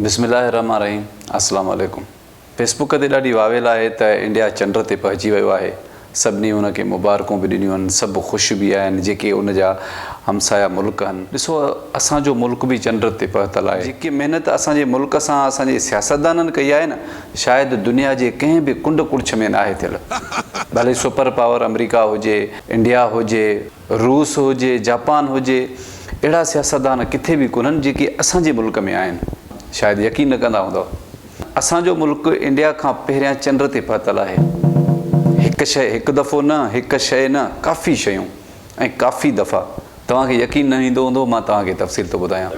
بسم الله الرحمٰن الرحيم اسلام عليڪم فيس بوڪ تي ڏاڍي واويل آهي ته انڊيا چنڊ تي پهچي ويو آهي سڀني ان کي مبارڪون به ڏنيون آهن سڀ خوش به آهن جيڪي ان جا همسايه ملڪ آهن ڏسو اسان جو ملڪ به چنڊ تي پهتل آهي جيڪي محنت اسان جي ملڪ سان اسان جي سياستدانن ڪئي آهي نه شايد دنيا جي ڪنهن به ڪنڊ ڪڙڇ ۾ ناهي ٿيل ڀلي سپر پاور آمريڪا هجي انڊيا هجي. روس هجي، جاپان هجي، اهڙا سياستدان ڪٿي به ڪونهن جيڪي اسان جي ملڪ ۾ آهن. شايد يقين نه ڪندا هوندؤ. اسان جو ملڪ انڊيا کان پهريان چنڊ تي پهتل آهي. هڪ شيء هڪ دفعو نه، هڪ شيء نه، ڪافي شيون ۽ ڪافي دفعا. توهان کي يقين نه ايندو هوندو، مان توهان کي تفصيل ٿو ٻڌايان.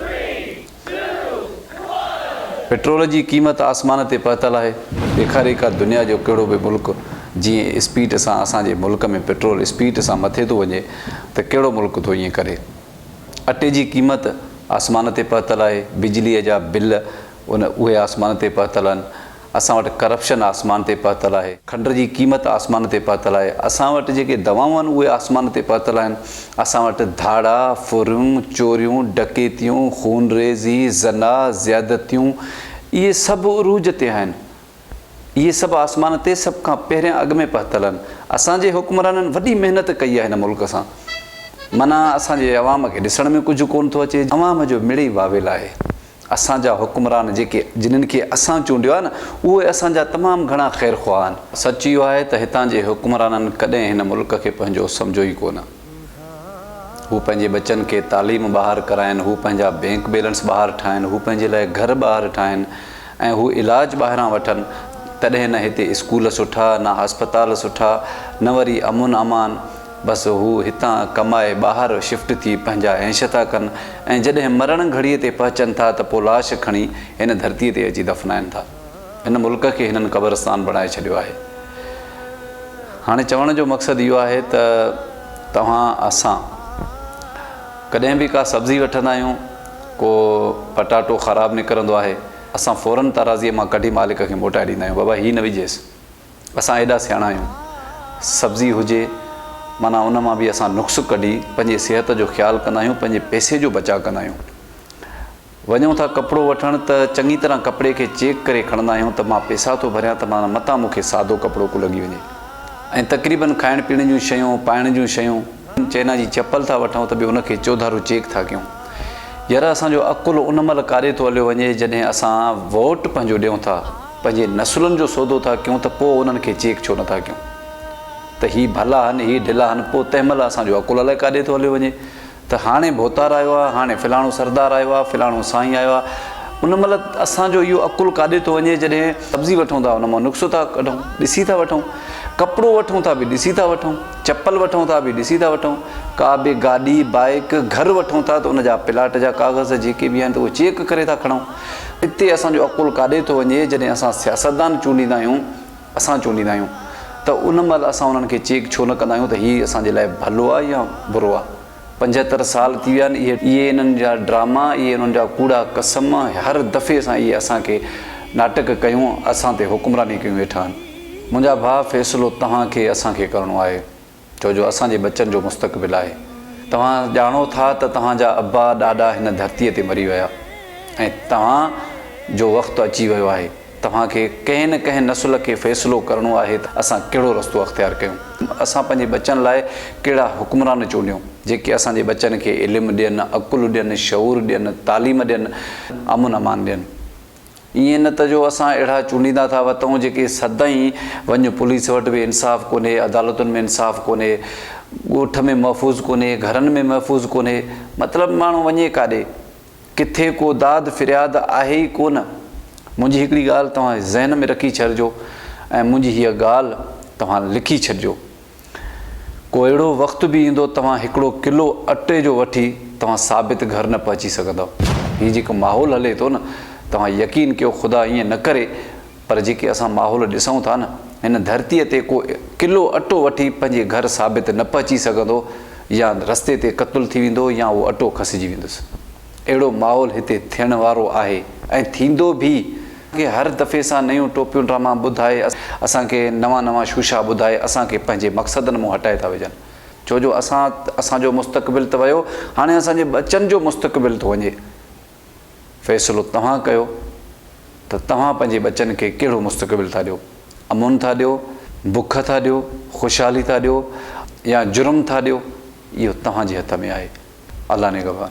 پيٽرول جي قيمت آسمان تي پهتل آهي، ڏيکاري ڪا دنيا جو ڪهڙو به ملڪ جيئن اسپيڊ سان اسان جي ملڪ ۾ پيٽرول اسپيڊ سان مٿي ٿو وڃي ته ڪهڙو ملڪ ٿو ائين ڪري. اٽي جي قيمت آسمان تي پهتل آهي، بجلي جا بل ان اهي آسمان تي پهتل آهن. اسان وٽ ڪرپشن آسمان تي پهتل آهي. کنڊر جي قيمت آسمان تي پهتل آهي. اسان وٽ جيڪي دوائون آهن اهي آسمان تي پهتل آهن. اسان وٽ ڌاڙا، ڦريون، چوريون، ڊڪيتيون، خون ريزي، زنا، زيادتيون اهي سڀ عروج تي آهن. اهي سڀ آسمان تي سڀ کان پهريان اڳ ۾ پهتل آهن. اسان جي حڪمرانن وڏي محنت ڪئي آهي هن ملڪ سان. معنيٰ اسان جي عوام کي ڏسڻ ۾ ڪجهه ڪونه ٿو اچي. عوام جو مڙئي واويل آهي. اسان جا حڪمران جيڪي جنھن کي اسان چونڊيو آھي نه اھي اسان جا تمام گھڻا خير خواھ آھن. سچ اھو آھي ته ھتان جي حڪمرانن ڪڏھن ھن ملڪ کي پنھنجو سمجھيو ئي ڪونه. ھو پنھنجي ٻچن کي تعليم ٻاھر ڪرائين، ھو پنھنجا بينڪ بيلنس ٻاھر ٺاھين، ھو پنھنجي لاء گھر ٻاھر ٺاھين ۽ ھو علاج ٻاھران وٺن تڏھن نه ھتي اسڪول سٺا، نه اسپتال سٺا، نه وري امن امان. بس هو هتان ڪمائي ٻاهر شفٽ ٿي پنهنجا هينش ٿا ڪن ۽ جڏهن مرڻ گهڙيء تي پهچن ٿا ته پوء لاش کڻي هن ڌرتيء تي اچي دفنائن ٿا. هن ملڪ کي هنن قبرستان بڻائي ڇڏيو آهي. هاڻي چوڻ جو مقصد اهو آهي ته توهان اسان ڪڏهن به ڪا سبزي وٺندا آهيون ڪو پٽاٽو خراب نڪرندو آهي اسان فورن ترازيء مان ڪڍي مالڪ کي موٽائي ڏيندا آهيون بابا هي نه وجهيس. اسان ايڏا سياڻا آهيون. سبزي هجي معنيٰ ان مان به اسان نقص ڪڍي پنهنجي صحت جو خيال ڪندا آهيون پنهنجي پئسي جو بچاء ڪندا آهيون. وڃون ٿا ڪپڙو وٺڻ ته چڱي طرح ڪپڙي کي چيڪ ڪري کڻندا آهيون ته مان پئسا ٿو ڀريان ته معنيٰ متان مون کي سادو ڪپڙو ڪو لڳي وڃي ۽ تقريبن کائڻ پيئڻ جون شيون پائڻ جون شيون چئنا جي چپل ٿا وٺون ته به ان کي چوڌارو چيڪ ٿا ڪيون. يرا اسان جو عقل ان مهل ڪاڏي ٿو هليو وڃي جڏهن اسان ووٽ پنهنجو ڏيون ٿا. پنهنجي نسلن جو سودو ٿا ڪيون ته پوء انهن کي چيڪ ڇو نٿا ڪيون ته هي ڀلا هن هي ڍلا هن پوء تنهن مهل اسان جو عقل الائي ڪاڏي ٿو هليو وڃي ته هاڻي ڀوتار آيو آهي هاڻي فلاڻو سردار آيو آهي فلاڻو سائين آيو آهي ان مهل اسان جو اهو عقل ڪاڏي ٿو وڃي جڏهن سبزي وٺون ٿا ان مان نقصو ٿا ڪڍون ڏسي ٿا وٺون ڪپڙو وٺون ٿا به ڏسي ٿا وٺون چپل وٺون ٿا به ڏسي ٿا وٺون ڪا به گاڏي بائيڪ گهر وٺون ٿا ته ان جا پلاٽ جا ڪاغذ جيڪي به آهن ته اهي چيڪ ڪري ٿا کڻون اتي اسان جو عقل ڪاڏي ٿو وڃي جڏهن اسان سياستدان چونڊيندا آهيون اسان چونڊيندا آهيون ته ان مهل اسان انهن کي چيڪ ڇو نه ڪندا آهيون ته هي اسان جي لاء ڀلو آهي يا برو آهي پنجهتر سال ٿي ويا آهن اهي انهن جا ڊراما اهي انهن جا ڪوڙا قسم هر دفعي سان اهي اسان کي ناٽڪ ڪيون اسان تي حڪمراني ڪيون ويٺا آهن منهنجا ڀاء فيصلو توهان کي اسان کي ڪرڻو آهي. ڇو جو اسان جي ٻچن جو مستقبل آهي. توهان ڄاڻو ٿا ته توهان جا ابا ڏاڏا هن ڌرتي تي مري ويا ۽ توهان جو وقت اچي ويو آهي. توهان کي ڪنهن نه ڪنهن نسل کي فيصلو ڪرڻو آهي ته اسان ڪهڙو رستو اختيار ڪيون. اسان پنهنجي ٻچن لاء ڪهڙا حڪمران چونڊيون جيڪي اسان جي ٻچن کي علم ڏين، عقل ڏين، شعور ڏين، تعليم ڏين، امن امان ڏين. ائين نه ته جو اسان اهڙا چونڊيندا ٿا وتئون جيڪي سدائين وڃ پوليس وٽ به انصاف ڪونهي، عدالتن ۾ انصاف ڪونهي، ڳوٺ ۾ محفوظ ڪونهي، گهرن ۾ محفوظ ڪونهي، مطلب ماڻهو وڃي ڪاڏي؟ ڪٿي ڪو داد فرياد آهي ئي ڪونه. منهنجي هڪڙي ڳالهه توهان ذهن ۾ رکي ڇڏجو ۽ منهنجي هيء ڳالهه توهان لکي ڇڏجو. ڪو اهڙو وقت به ايندو توهان هڪڙو ڪلو اٽي جو وٺي توهان ثابت گهر نه پهچي سگهندؤ هي جيڪو ماحول هلي ٿو نه توهان يقين ڪيو خدا ائين نه ڪري پر جيڪي اسان ماحول ڏسون ٿا نه هن ڌرتي تي ڪو ڪلو اٽو وٺي پنهنجي گهر ثابت نه پهچي سگهندو يا رستي تي قتل ٿي ويندو يا اهو اٽو کسجي ويندس. اهڙو ماحول هتي ٿيڻ وارو آهي ۽ ٿيندو به. کي هر دفعي سان نيون ٽوپيون ڊراما ٻڌائي اسان کي نوان نوان شوشا ٻڌائي اسان کي پنهنجي مقصدن مون هٽائي ٿا وجهن ڇو جو اسان اسان جو مستقبل ته ويو هاڻي اسان جي ٻچن جو مستقبل ٿو وڃي فيصلو توهان ڪيو ته توهان پنهنجي ٻچن کي ڪهڙو مستقبل ٿا ڏيو امن ٿا ڏيو بک ٿا ڏيو خوشحالي ٿا ڏيو يا جرم ٿا ڏيو اهو توهان جي هٿ ۾ آهي. الله نگهبان.